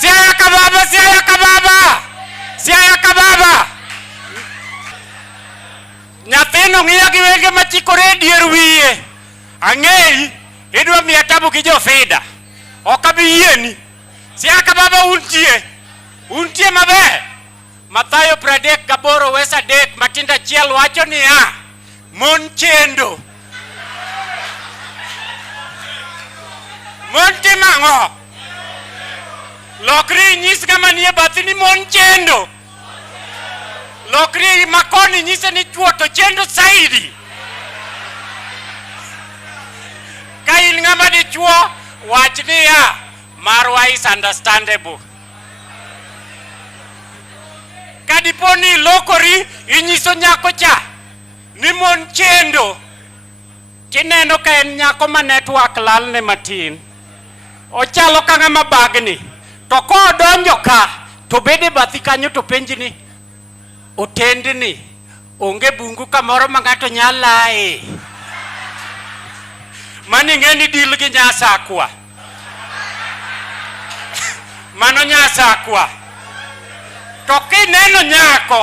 Siaya Kababa, Siaya Kababa, Siaya Kababa. Nyathino ng'iya gi wenge machikore e dier wiye. Ang'eyi, idwa miya tabu gi jofida. Ok abi yieni. Siaya Kababa untie. Untie maber. Mathayo 38 wes adek matindo achiel wacho niya, Mon chendo. Mon timo ang'o? Lokri inyis ng'ama nie bathi ni mon chendo. Lokri makoni inyise ni chwo to chendo saidi. Ka in ng'ama dichwo, wach niya, marwa is understandable. Ka dipo ni ilokori, inyiso nyako cha ni mon chendo tineno ka en nyako ma network lalne matin ochalo ka ng'ama bagni to kodonjo ka to bede bathi kanyo to penji ni otendni onge bungu kamoro ma ng'ato nyalae mani ng'e ni dil gi nyasakwa mano nyasakwa to kineno nyako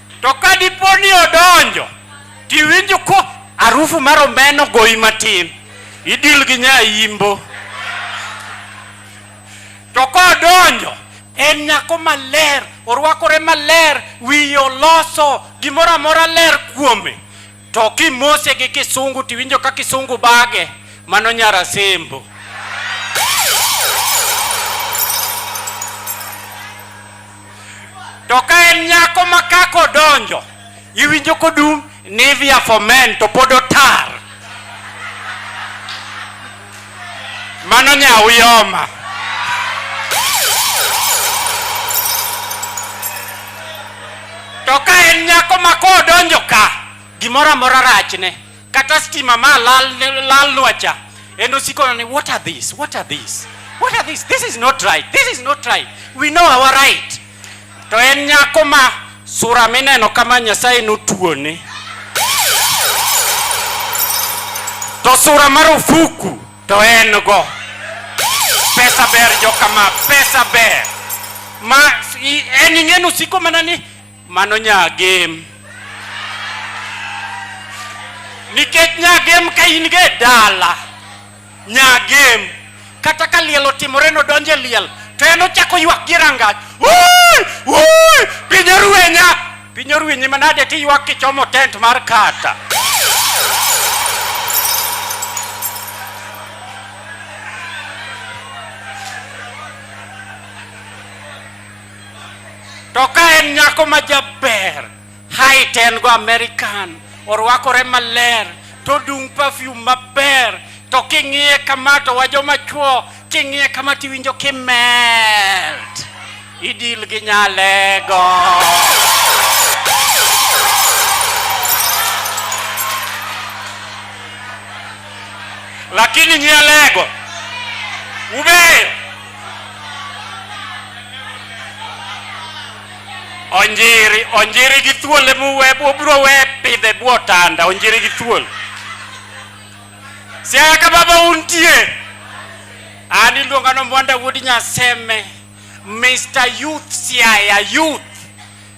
To ka dipo ni odonjo to iwinjo ko arufu mar omeno goyi matin, idil gi nyayimbo. To kodonjo en nyako maler, orwakore maler, wiye oloso, gimoro amora ler kuome. To kimose gi kisungu tiwinjo ka kisungu bage, mano nyara sembo. To ka en nyako ma kaka odonjo, iwinjo kodum Nivea for men to pod otar. mano nyau yoma to ka en nyako ma kodonjo ka gimoro amora rachne kata stima ma lalnwa cha en osiko ni what are this what are this what are this this is not right this is not right we know our right To en nyako ma sura mineno kama Nyasaye notuone. To sura marufuku to en go. Pesa ber jokama, pesa ber. Ma en ing'enu siko mana ni mano nyagem. Nikech nyagem ka in ge dala Nyagem. Kata ka liel otimore nodonj e liel to en ochako ywak gi rangach. Wuy! Wuy! Piny orwenya. Piny orwenyi manade tiywak kichomo tent mar kata. To ka en nyako ma jaber Height en go American, orwakore maler, to dung perfume maber, to king'iye kama to wajoma chuo, king'iye kama tiwinjo kimelt. Idil gi nyalego. Lakini nyalego ubeyo Onjiri, onjiri gi thuol ema uwe, ubiro we pidhe bwo tanda, onjiri gi thuol. Siaya ka baba untie. An iluonga no Mwanda Wuod Nyaseme, Mr. Youth Siaya Youth.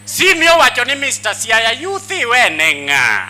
Si miyo wacho ni Mr. Siaya Youth iwene ng'a?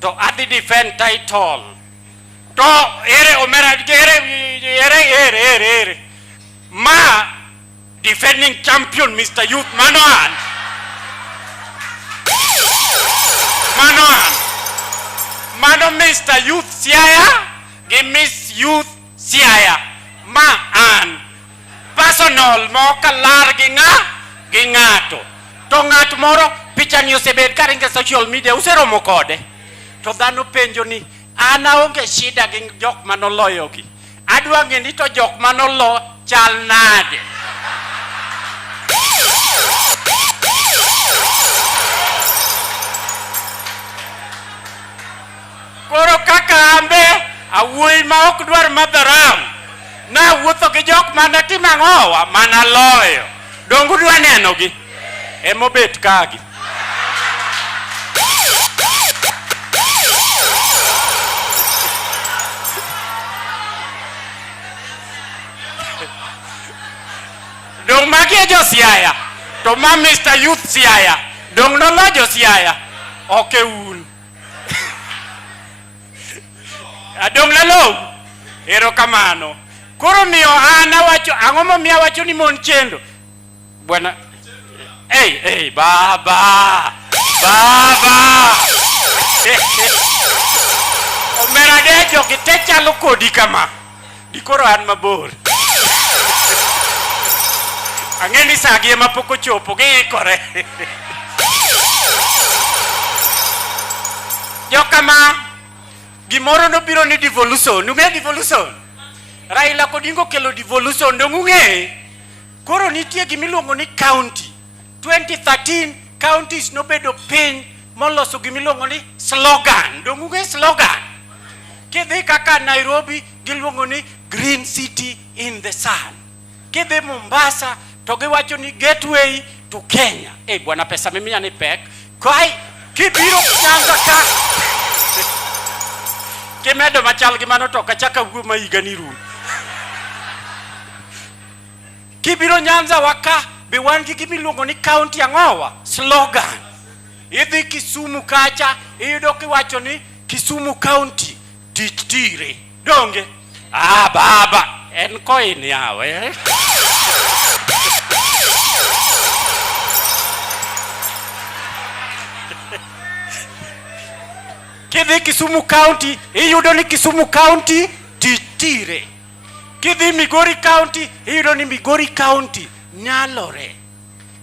to adhi defend title to ere omera ere ere ere ere ere ma defending champion Mr. Youth mano an mano an mano Mr. Youth Siaya gi Miss Youth Siaya ma an personal ma ok alar gi ng'a gi ng'ato to ng'at moro pichani osebed ka ringe social media useromo kode to dhano penjo ni an aonge shida gi jok ma noloyogi adwa ng'e ni to jok ma nolo chal nade Koro kaka ambe awuoyi ma ok dwar madho ram, nawuotho gi jok mane timo ang'owa mana loyo. Donge udwa nenogi? Emobet kagi. Dong magi e jo Siaya, to ma Mr. Youth Siaya, dong nolo jo Siaya, ok e un. Adong' nalong'. Erokamano. Koro miyo an awacho ang'o momiyo awacho ni mon chendo? Bwana Hey, hey, baba. Baba. Omera dejo kite chalo kodi kama. dikoro an mabor ang'e ni sagi ema pok ochopo giikore jokama gimoro nobiro ni devolution ung'e devolution raila kodingo kelo devolution dong ung'e koro nitie gimiluongo ni county 2013 counties nobedo piny moloso gima iluongo ni slogan. Donge ung'e slogan? Kidhi kaka Nairobi giluongo ni green city in the sun. Kidhi Mombasa to giwacho ni gateway to Kenya. Eh, bwana pesa mimi ni pek. Kai kibiro Nyanza ka kimedo machal gi mano to kachaka wuo ma higa ni rum. Kibiro Nyanza waka be wan gi gima iluongo ni county ang'owa slogan. Idhi Kisumu kacha iyudo kiwacho ni Kisumu county tich tire. Donge? Ah baba en koin yawe. Eh? Kidhi Kisumu county iyudo ni Kisumu county tich tire. Kidhi Migori County iyudo ni Migori County nyalore.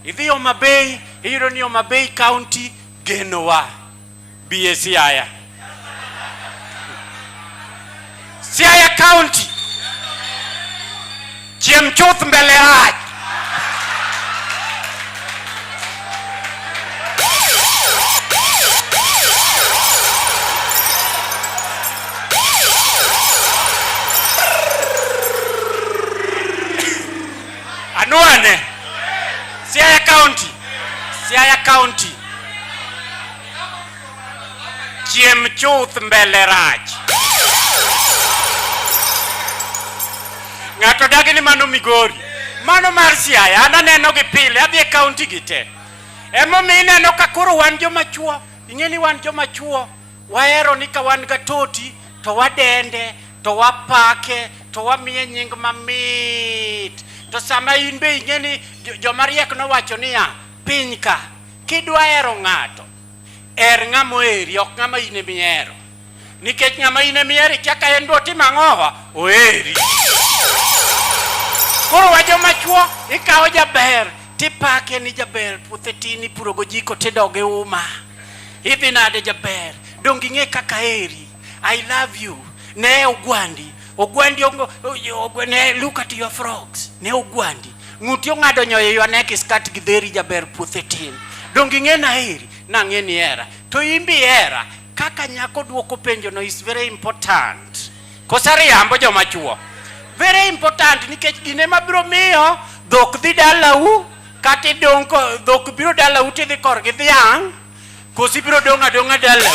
Idhi Homa Bay iyudo ni Homa Bay County genowa. Biye Siaya. Siaya County. Chiem chuth mbele rach. Anwane Siaya County, Siaya County. Chiem chuth mbele rach. Ng'ato dagi ni mano Migori, mano mar Siaya, an aneno gi pile, adhi e kaunti gi te. Emomiyo ineno ka koro wan joma chuo, ing'e ni wan joma chuo, wahero ni ka wan gatoti to wadende to wapake to wamiye nying mamit to sama in be ing'e ni joma riek nowacho niya piny ka kidwa hero ng'ato Her ng'ama oheri, ok ng'ama in ema ihero. Nikech ng'ama in ema ihero ikia ka en be otimo ang'owa, oheri. Koro wa joma chwo ikawo jaber tipake ni jaber puothe tin ipurogo jiko tidoge uma. Idhi nade jaber? Donge ing'e kaka aheri? I love you. Ne ogwandi. Ogwandi ongo, ogwandi, ne look at your frogs. Ne ogwandi. Ng'uti ong'ado nyoyo your neck is cut gi dheri jaber puothe tin. Dongi ng'e na heri, na ng'e ni era. To imbi era, kaka nyako duoko penjo no is very important. Kosari yambo joma chuo. Very important nikech gine mabiro miyo dhok dhi dalau kata idong' dhok biro dalau tidhi korgi dhiang' Kosi biro dong' adong'a dala.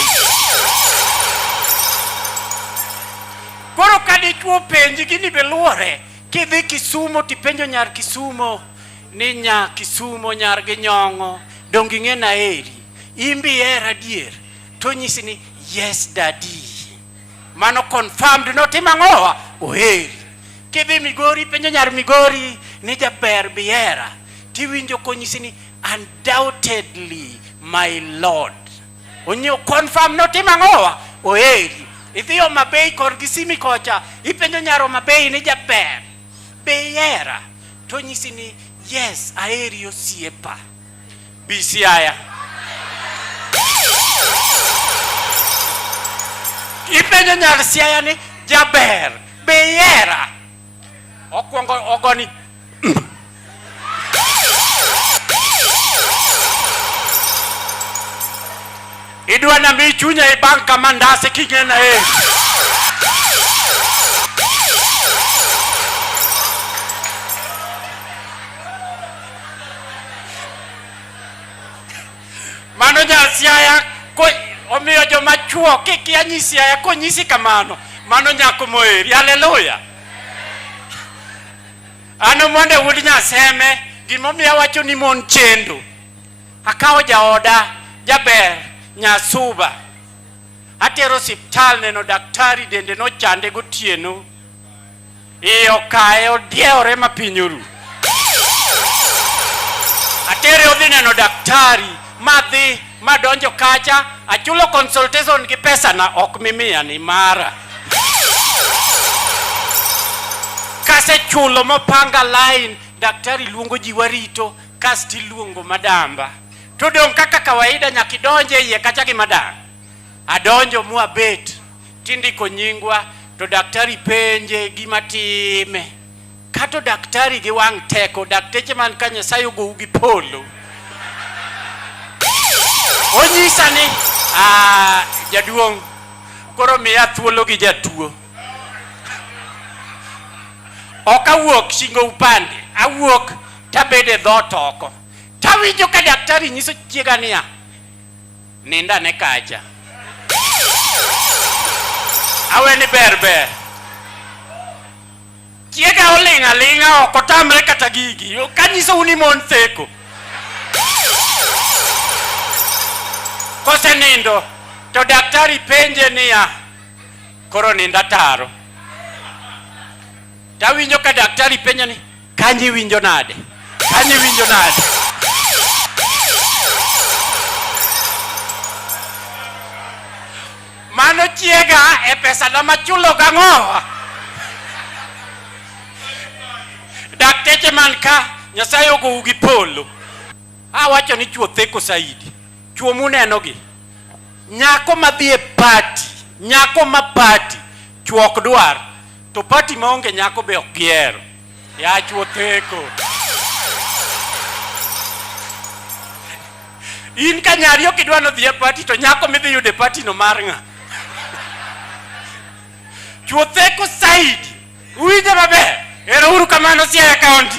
Koro ka dichwo penji gini be luore kidhi Kisumo tipenjo nyar Kisumo ni nya Kisumo nyar gi nyong'o donge ing'e na eri imbi hera adier to nyisi ni yes daddy mano confirmed notima ng'owa oheri kidhi Migori penjo nyar Migori ni jaber bihera tiwinjo konyisi ni Undoubtedly my Lord. Onyo confirm no tima ngowa oeri. Ithiyo mabei kor gisimi kocha ipenjo nyaro mabei ni jaber. Beyera to nyisi ni yes aeri osiepa. Bisiaya. Ipenjo nyar siaya ni jaber. Beyera. Okwongo ogoni. Idwa na mi chunya e bank kama ndase kingena e. Mano nyasiaya ko omiyo joma chuo kikia nyisiaya konyisi kamano mano nyako moeri. Haleluya. Ano monde wuod Nyaseme gimomiyo awacho ni mon chendo. Akawo jaoda jaber Nyasuba atero siptal neno daktari dende nochande gotieno iye okaye odiewore ma piny oru. Atere odhi neno daktari madhi madonjo kacha achulo consultation gi pesa na ok mimiya ni mara kasechulo mopanga line daktari luongo ji warito kasti luongo madamba to dong' kaka kawaida nyakidonje iye kacha gi madam adonjo mwabet tindiko nyingwa to daktari penje gima time kato daktari gi wang' teko dakteche man ka nyasaye ogowu gi polo onyisa ni ah, jaduong' koro miya thuolo gi jatuo ok awuok shingo upande awuok tabede dhot oko tawinjo ka daktari nyiso chiega niya Nind ane kacha. Awe ni ber ber. Chiega oling' aling'a ok otamre kata gigi. Kanyisou ni mon theko. Kosenindo to daktari penje niya, koro nind ataro. Tawinjo ka daktari penja ni Kanyo iwinjo nade? Kanyo iwinjo nade? Mano chiega e pesa na machulo gang'o? Dakteche man ka Nyasaye ogou gi polo. Awacho ni chuo theko saidi. Chuo munenogi. Nyako madhi e pati, nyako ma pati, chuo ok dwar. To pati maonge nyako be ok gihero. Yach wotheko. In ka nyari ok idwa nodhi e pati to nyako midhi yude pati no mar ng'a? Chuotheko Said. Uwinjo maber? Ero uru kamano siaya kaunti.